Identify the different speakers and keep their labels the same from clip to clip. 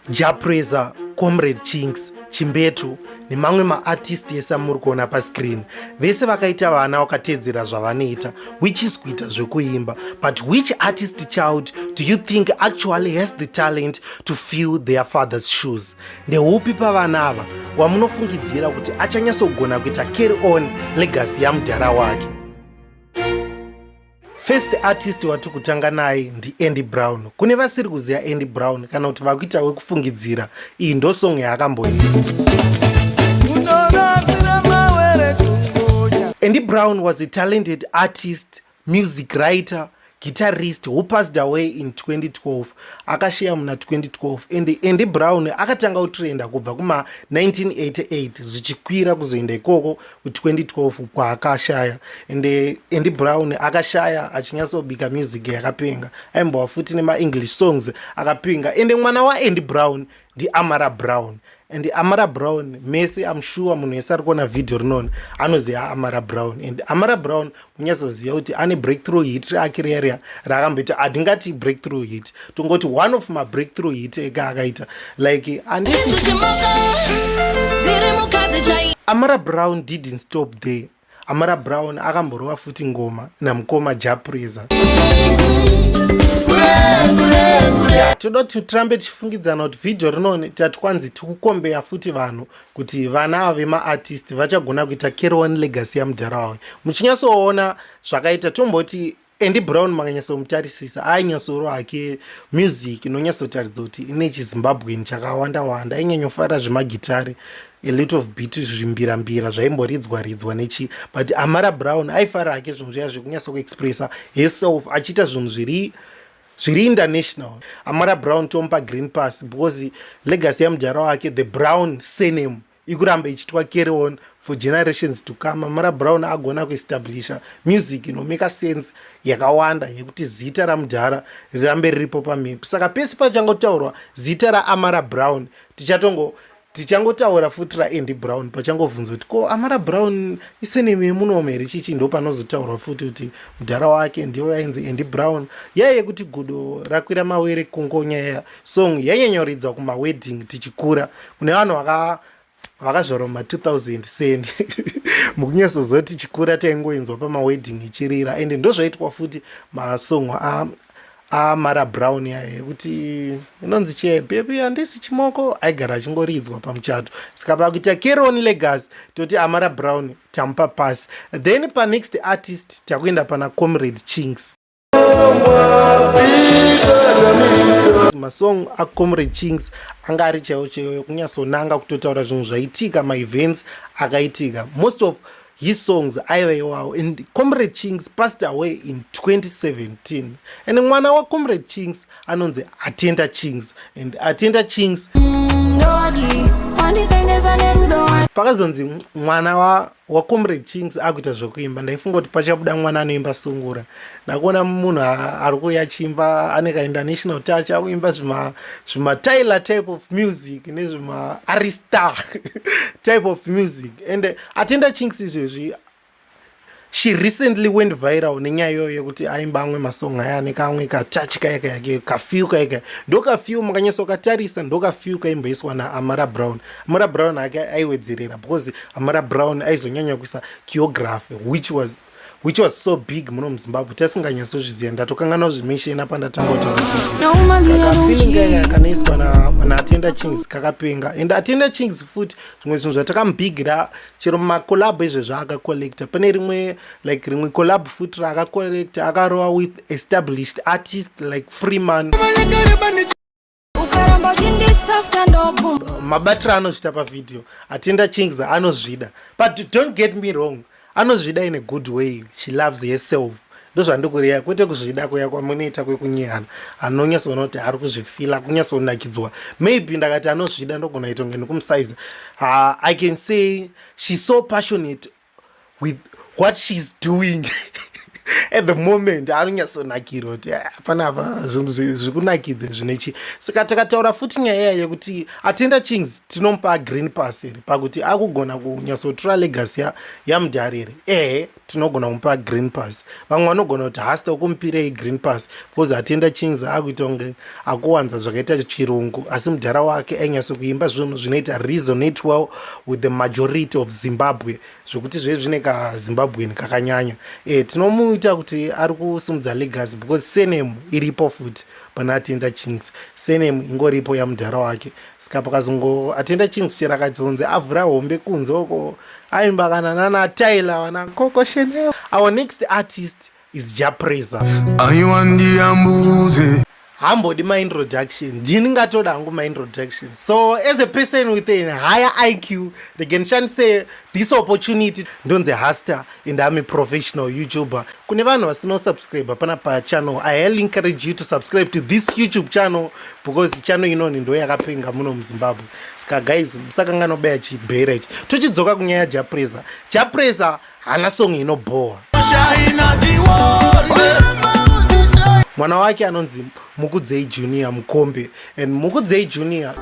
Speaker 1: japreza comrade chinks chimbetu nemamwe maartist ese amuri kuona pascreen vese vakaita vana vakateedzera zvavanoita which is kuita zvekuimba but which artist child do you think actually has the talent to fill their father's shoes ndeupi pavana ava wamunofungidzira kuti achanyatsogona kuita carry on legacy yamudhara wake First artist wati kutanga naye ndiAndy Brown. Kune vasiri kuziva Andy Brown kana kuti vakuita wekufungidzira. Iyi ndo song yaakamboita. Andy Brown was a talented artist, music writer, guitarist who passed away in 2012 akasheya muna 2012 and andy brown akatanga kutrenda kubva kuma 1988 zvichikwira kuzoenda ikoko 2012 kwaakashaya and Andy Brown akashaya achinyatsobika music yakapenga aimbova futi nemaenglish songs akapenga and mwana waAndy Brown ndiAmara Brown and Amara Brown mese I'm sure munhu wese ari kuona video rinoni anoziva Amara Brown and Amara Brown unyasoziva kuti ane breakthrough hit rake riya raakamboita hatingati breakthrough hit tongoti one of mabreakthrough hit ega akaita like amara brown didn't stop there amara brown akamborova futi ngoma namukoma japreza toda kuti tirambe tichifungidzana kuti vhidhiyo rinone tati kwanzi tikukombeya futi vanhu kuti vana ava vemaartist vachagona kuita kerowan legacy yamudhara wavo muchinyatsoona zvakaita tomboti andy brown makanyatsoomutarisisa ainyatsoro hake music inonyatsotaridza kuti ine chizimbabweni chakawanda wanda ainyanyofara zvemagitare a lot of bit zvimbira mbira zvaimboridzwa ridzwa nechi but amara brown aifara hake zvinhu zviya zvekunyatsokuexpressa herself achiita zvinhu zviri zviri international amara brown tomupa green pass because legacy yamujara wake the brown sename ikuramba ichitwa carry on for generations to come amara brown agona kuestablisha music inomeka sense yakawanda yekuti zita ramujara rirambe riripo pamhepi saka pese pachangotaurwa zita raamara brown tichatongo Tichangotaura futi raAndy Brown pachangovhunzwa kuti ko Amara Brown isenemu yemunomu here chichi ndopanozotaurwa futi kuti mudhara wake ndivo yainzi Andy Brown yaya yekuti gudo rakwira mawere kungonya yaya song yanyanyoridzwa kumawedding tichikura kune vanhu vaka vakazvarwa ma 2000 seni mukunyasozoti tichikura taingoinzwa pamawedding ichirira ende ndozvaitwa futi masong Ah, Mara Brown yaya yekuti inonzi che baby handisi chimoko aigara achingoridzwa pamuchato saka pakuita Keroni Legacy toti Amara Brown tamupa pasi then pa next artist takuenda pana Comrade Chinks masong acomrade chings anga ari chaiwo chaiwo yokunyatsonanga kutotaura zvinhu zvaitika maevents akaitika most of his songs aiva iwawo and comrade chings passed away in 2017 and mwana wacomrade chings anonzi atenda chings and atenda chings pakazonzi mwana wacomrade chings akuita zvekuimba ndaifunga kuti pachabuda mwana anoimba sungura ndakuona munhu ari kuuya chimba ane kainternational touch akuimba zvimatyler type of music nezvimaarista type of music and atenda chinks izvezvi she recently went viral nenyaya iyoyo yekuti aimba amwe masong aya ane kamwe katachi kaya kaya ke kafew kaya kaya ndokafew makanyasa ukatarisa ndokafew kaimboiswa naamara brown amara brown ake aiwedzerera because amara brown aizonyanya kuisa kiography which was which was so big muno muzimbabwe tasinganyatsozviziva ndatokanganwa zvemisheni apa ndatangatakanoiswa naatenda chings kakapenga and atenda chings futi zvimwe zvinhu zvatakamubigira chero macolab ezvezvo akacollecta pane rimwe like rimwe colab futi raakacollecta akarowa with established artist like freeman mabatiro anozvita pavideo atienda chings anozvida but don't get me wrong anozvida in a good way she loves herself ndozvandikureya kwete kuzvida kuya kwamunoita kwekunyehana anonyatsoona kuti ari kuzvifila kunyatsonakidzwa maybe ndakati anozvida ndogona ita kunge nekumusaiza uh, i can say she's so passionate with what she's doing at the moment anonyatsonakirwa kuti eh, panapa zvinhu zvikunakidze zvine chii saka takataura futi nyaya iya yekuti atenda chings tinomupa green pass here pakuti akugona kunyatsotura legacy yamudhari here ehe tinogona kumupa green pass vamwe vanogona kuti hasta ukumupirei green pass because atenda chings akuita kunge akuwanza zvakaita chirungu asi mudhara wake ainyatso kuimba zvinhu zvinoita resonate well with the majority of zimbabwe zvekuti zve zvine kazimbabwen kakanyanya e, tinomuita kuti ari kusimudza legacy because senemu iripo futi pana atenda chings senemu ingoripo yamudhara wake ska pakazongo atenda chings chero akazonzi avhura hombe kunze uko aimba kana nana tyler vana koko chanel our next artist is ja praiser aiwa ndiyambudze hambodi my introduction ndini ngatoda hangu my introduction so as a person with an higher iq reganishandise this opportunity ndonzi haster and am a professional youtuber kune vanhu vasino subscribe pana pa channel i highly encourage you to subscribe to this youtube channel because channel inoni ndo yakapenga muno muzimbabwe saka guys musakanganobaya chibhera ichi tochidzoka kunyaya japresa japresa hana song inobhowa mwana wake anonzi mukudzei junior mukombe and mukudzei junior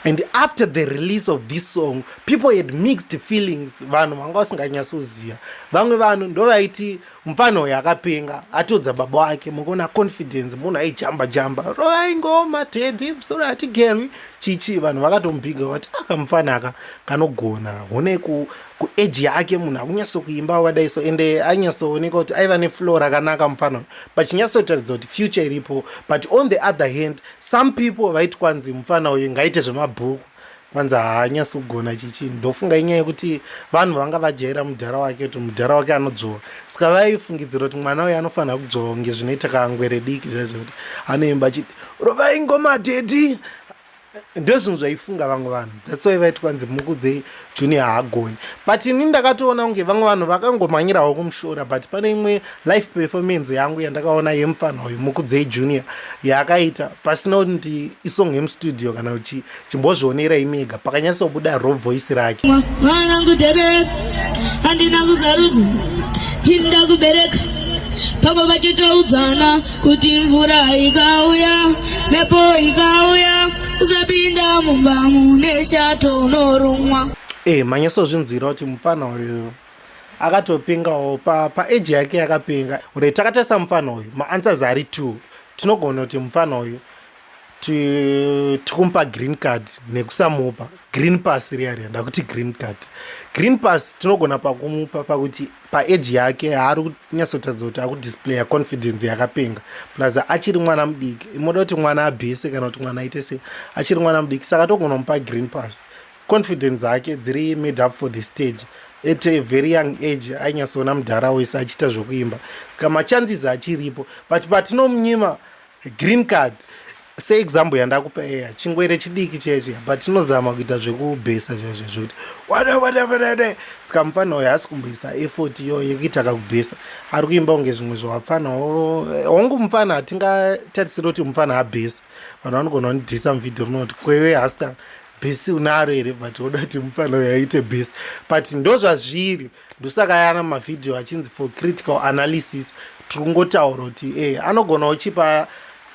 Speaker 1: and after the release of this song people had mixed feelings vanhu vanga vasinganyatsoziva vamwe vanhu ndovaiti Mupfana uyu akapenga atiudza baba wake mukona confidence munhu aijamba jamba rovai ngoma tedhi musoro hatigerwi chichi vanhu vakatomubhiga vati aka mupfana aka kanogona hone ku, ku age yake munhu akunyatso kuimba wakadai so ende anyatsooneka kuti aiva neflow rakanaka mupfana uyu pachinyatsotaridza kuti future iripo but on the other hand some people vaiti kwanzi mupfana uyu ngaite zvemabhuku kwanzi haanyasi kugona chichi ndofunga inyaya yekuti vanhu vanga vajaira mudhara wake kuti mudhara wake anodzvova saka vaifungidzira kuti mwana uyo anofanira kudzvova kunge zvinoita kangwere diki zvaizvo kuti anoimba chiti rovai ngoma dedi ndozvinhu zvaifunga vamwe vanhu that's why vaiti kwanzi mukudzei Junior haagoni but ini ndakatoona kunge vamwe vanhu vakangomhanyirawo kumushora but pane imwe life performance yangu yandakaona yemupfanha uyu mukudzei junior yaakaita pasina kuti ndi isong yemustudio kana uchi chimbozvionera imega pakanyatsobuda ro voice rake mwana kutebereka andina kuzarudzo tinda kubereka pamwe vachitoudzana kuti mvura ikauya mepo ikauya usapinda mumba mune shato unorumwa e eh, manyasozvinzwira kuti mupfana uyu akatopingawo paeji pa yake yakapinga ure takatarisa mupfana uyu maanswers ari two tinogona kuti mupfana uyu tikumupa green card nekusamupa green pass riya riya ndakuti green card green pass tinogona pakumupa pakuti pa age yake haari kunyatsotaridza kuti akudisplaya confidence yakapenga plus achiri mwana mudiki imoda kuti mwana abhese kana kuti mwana aite sei achiri mwana mudiki saka togona mupa green pass confidence dzake dziri made up for the stage at a very young age ainyatsoona mudhara wese achiita zvekuimba saka machances achiripo but patinomunyima Green card se example yandakupa eya chingwere chidiki cheche but chinozama kuita zvekubhesa chaizvo zvekuti wada wada wada saka mupfana uyo haasi kumboisa effort iyo yekuita kakubhesa ari kuimba kunge zvimwe zvawapfana hongu mupfana hatingatarisiri kuti mupfana abhesa vanhu vanogona kunidhisa muvhidhio rinoti kwewe hasta bhesi unaro here but woda kuti mupfana uyo aite bhesa but ndozvazviri ndosaka yana mavhidhiyo achinzi for critical analysis tiri kungotaura kuti e anogona uchipa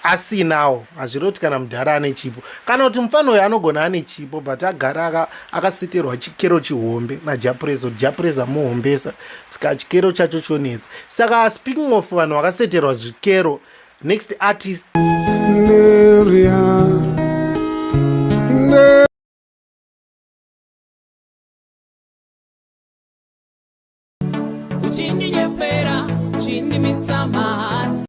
Speaker 1: asinawo hazviri kuti kana mudhara ane chipo kana kuti mufana uyo anogona ane chipo but agara akasitirwa chikero chihombe najapurezo japurezo amuhombesa saka chikero chacho chonetsa saka speaking of vanhu vakaseterwa zvikero next artist Neria. uchindinyepera uchindimisa mahara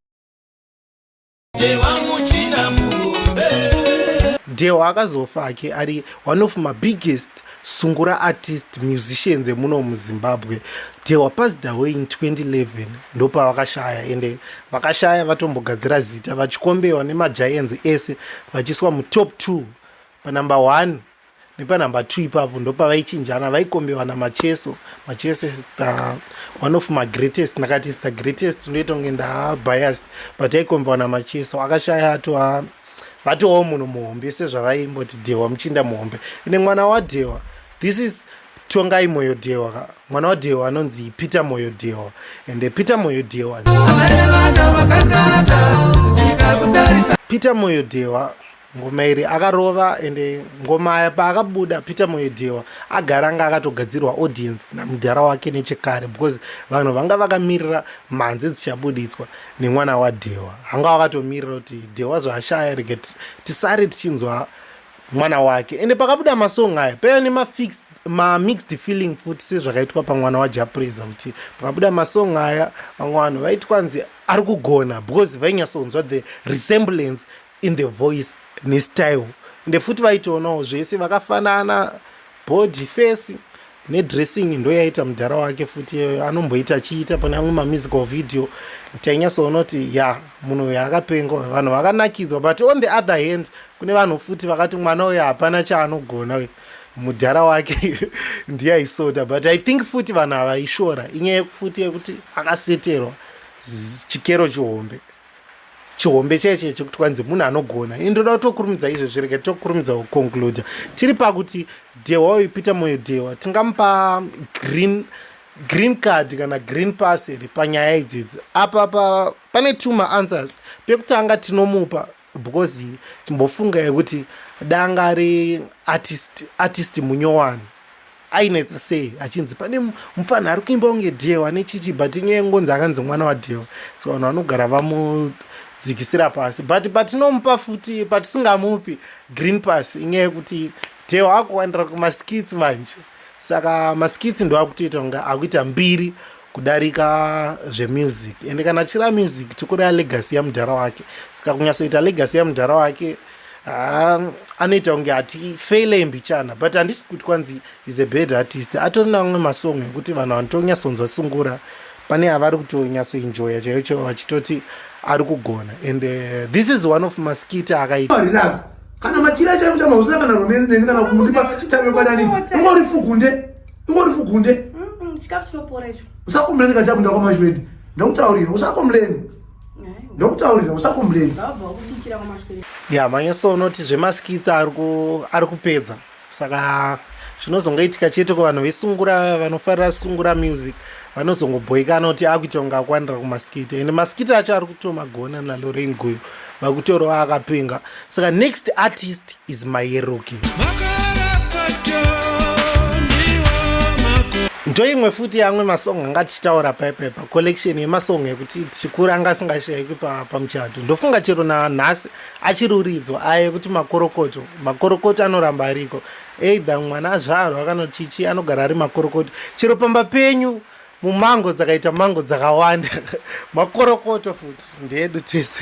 Speaker 1: dhewa akazofa hake ari one of mabiggest sungura artist musicians emuno muzimbabwe they were passed away in 2011 ndopavakashaya ende vakashaya vatombogadzira zita vachikombewa nemagiants ese vachiswa mutop 2 panumber 1 nepanumber two ipapo ndopavaichinjana vaikombewa namacheso macheso is the one of my greatest ndakati is the greatest ndoita kunge ndabiased but aikombewa namacheso akashaya atova vatovawo munhu muhombe sezvavaimboti dhewa muchinda muhombe ine mwana wadhewa this is tongai moyo dhewa mwana wadhewa anonzi peter moyo dhewa ende peter moyo dhewa peter moyo dhewa Ngoma iri akarova ende ngoma aya paakabuda Peter Moyedhewa agara anga akatogadzirwa audience namudhara wake nechekare because vanhu vanga vakamirira mhanzi dzichabuditswa nemwana waDhewa hanga wakatomirira kuti Dhewa zvaashaya rege tisare tichinzwa mwana wake ende pakabuda masong aya paya nemafix mamixed feeling futi sezvakaitwa pamwana wajapreza kuti pakabuda masong aya vamwe vanhu vaitwa nzi ari kugona because vainyatsonzwa the resemblance in the voice nestyle ende futi vaitoonawo zvese vakafanana body face nedressing ndoyaita mudhara wake futi iyoyo anomboita achiita pane amwe mamusical video tainyatsoona kuti ya munhu uyo akapenga vanhu vakanakidzwa but on the other hand kune vanhu futi vakati mwana uyo hapana chaanogona uyo mudhara wake ndiye aisoda but i think futi vanhu havaishora inyaya yekufuti yekuti akaseterwa chikero chihombe chihombe chaiye chaiye chekuti kwanzi munhu anogona ini ndoda kutokurumidza izvo zvirege tokurumidza kuconcluda tiri pakuti dhewa uyu peter moyo dhewa tingamupa green green card kana green pass here panyaya idzidzi apa pa, pane two maanswers pekutanga tinomupa because timbofunga yekuti dangari artist, artist munyowani Ainetsa sei achinzi pane mupfanha ari kuimba kunge Dhewa ane chichi but inyaya ngonzi akanzi mwana waDhewa so vanhu vanogara vamudzikisira pasi but patinomupa futi patisingamupi green pass inyaya yekuti Dhewa akuwandira kumaskits manje saka maskits ndoakutoita kunge akuita mbiri kudarika zvemusic ende kana achira music tikureva legacy yamudhara wake saka kunyatsoita legacy yamudhara wake Ah, anoita kunge ati faile mbichana but handisi kuti kwanzi is a bad artist atori namwe masong ekuti vanhu vanotonyasonzwa sungura pane avari kutonyatsoenjoya chaiyo chaivo vachitoti ari kugona and uh, this is one of maskita akaita kana machira
Speaker 2: chaivo chamausina kana romance neni kana kumudipa tave kwananidzi ungorifugunde iwe uri fugunde chikafu
Speaker 3: chinopora icho usakomuleni kati akunda
Speaker 2: kwamashwedi ndokutaurira usakomuleni ndokutaurira usakomuleni
Speaker 1: ya manyeso unoti zvemaskitsa ari kupedza saka zvinozongaitika chete ko vanhu vesungura vanofarira sungura music vanozongobhoikana kuti akuita kunge akwanira kumaskita ende maskita acho ari kutomagona nalorain guyo vakutorawo akapenga saka next artist is mayeruki ndoimwe futi yamwe masong anga tichitaura paipepa collection yemasong yekuti tichikura anga asingashayikwi pamuchato ndofunga chero nanhasi achiri uridzwa aye kuti makorokoto makorokoto anoramba ariko either mwana azvarwa kana chichi anogara ari makorokoto chero pamba penyu Mumango dzakaita mango dzakawanda makorokoto futi ndeedu tese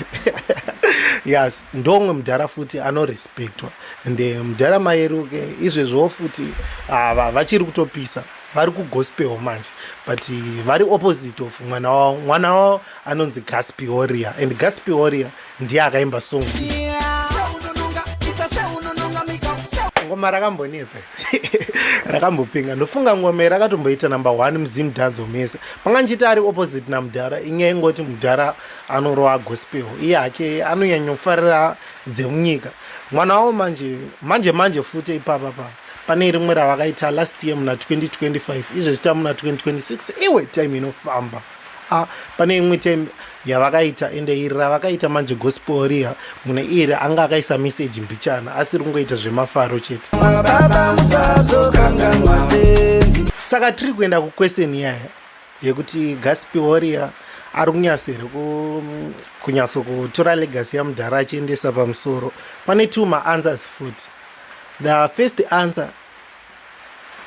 Speaker 1: yes ndomwe mudhara futi anorespectwa and eh, mudhara mayeru ke izvezvowo futi ava vachiri kutopisa vari kugospel manje but eh, vari opposite of mwana wavo mwana wavo anonzi gaspioria and gaspioria ndiye akaimba song ngoma rakambonetsa rakambopinga ndofunga ngoma rakatomboita number one muzim danzo mese manga ndichiti ari opposite namudhara inyaya ingoti mudhara anorova gospel iye hake anonyanyofarira dzemunyika mwana wavo manje manje manje futi ipapa pa pane rimwe ravakaita last year muna 2025 izvezvita muna 2026 iwe time inofamba Ah, pane imwe tem yavakaita ende iri ravakaita manje gospel riya mune iri anga akaisa message mbichana asiri kungoita zvemafaro chete saka tiri kuenda kuquestion yaya yekuti gaspel riya ari kunyasa here kunyatso kutora legasi yamudhara achiendesa pamusoro pane two maanswers futi the first answer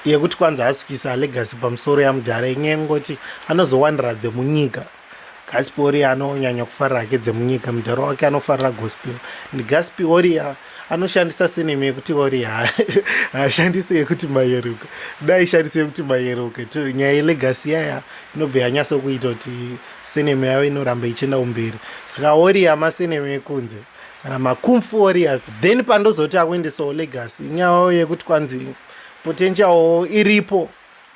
Speaker 1: yekuti kwanzi asukisa legacy pamusoro yamudhara inyaya yekungoti anozowanira dzemunyika gaspiori anonyanya kufarira hake dzemunyika mudhara wake anofarira gospel ndi gaspioria anoshandisa sinema yekuti ori haashandise yekuti mayeruka dai shandise yekuti mayeruka to nyaya yelegasi yaya inobva yanyaso kuita kuti sinema yavo inoramba ichienda kumberi saka ori yamasinema ekunze kana makumfu warriors then pandozoti akuendesawo legacy nyaya yekuti kwanzi potential iripo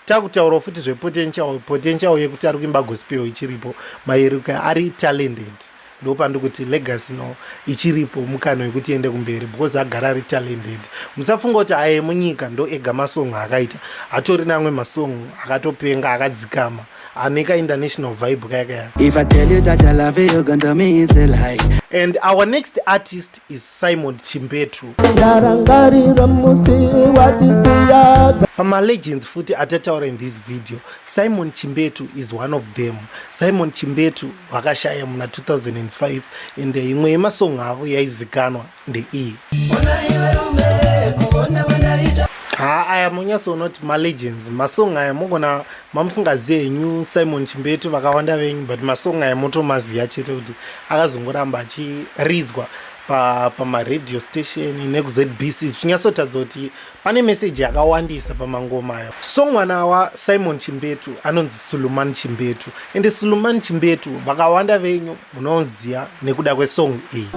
Speaker 1: takutaurawo futi zvepotential potential yekuti ari kuimba gospel ichiripo mayeruka ari talented ndopandi kuti legacy no ichiripo mukano yekuti ende kumberi because agara ari talented musafunga kuti aye munyika ndo ega masong akaita atori namwe masong akatopenga akadzikama Anika international vibe kaya kaya. If I tell you that
Speaker 3: I love you, you're gonna tell me it's a lie. And our next
Speaker 1: artist is Simon Chimbetu. Pama legends futi atataura in this video. Simon Chimbetu is one of them. Simon Chimbetu vakashaya muna 2005 and imwe yemasong avo yaizikanwa ndeiyi haa aya munyasi unoti malegends masong aya mogona mamusingazive henyu simon chimbetu vakawanda venyu but masong aya motomaziva chete kuti akazongoramba achiridzwa pamaradio pa station nekuzbc zvichinyatsotaridza kuti pane meseji yakawandisa pamangoma ayo so mwana wasimon chimbetu anonzi suluman chimbetu ende suluman chimbetu vakawanda venyu Munonzia nekuda kwe song iyi.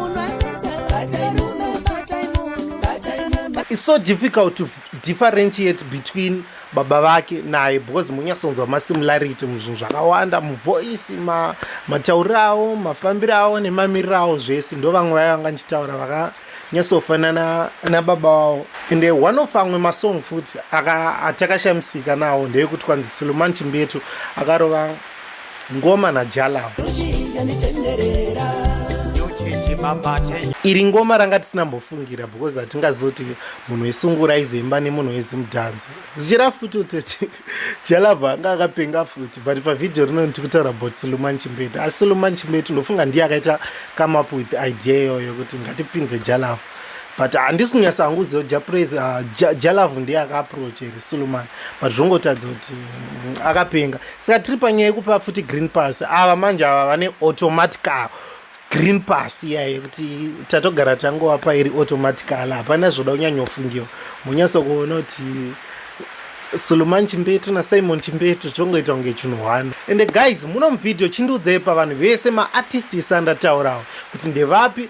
Speaker 1: It's so difficult to differentiate between baba vake naye because munyasonzwa ma similarity muzvinhu zvakawanda muvoice ma matauriro avo mafambiro avo nemamiriro avo zvese ndo vamwe vaya vanga ndichitaura vaka nyasofanana nababa wavo and eh, one of amwe masong futi atakashamisika nawo ndeyekuti kwanzi suleman chimbetu akarova Ngoma na Jalab. Iri ngoma ranga tisina mbofungira because hatingazoti munhu wesungura aizoimba nemunhu wezimudhanzo zvichira futi kuti Jalab anga akapenga futi but pavideo rino ndikutaura about Suluman Chimbetu asi Suluman Chimbetu ndofunga ndiye akaita come up with idea iyoyo kuti ngatipinze Jalab but handisi kunyasa hangu kuziva kuti japraise ah, jalavu ndiye akaaproach here suluman but zvongotadza kuti mm, akapenga saka tiri panyaya yekupa futi green pass ava manje ava vane automatical green pass iya yekuti tatogara tangovapa iri automatical hapana zvoda kunyanyofungiwa munyasa kuona kuti suluman chimbetu nasimon chimbetu chongoita kunge chinhu hwani ende guys muno muvhidhiyo chindiudzei pavanhu vese maartist ese andataurawo kuti ndevapi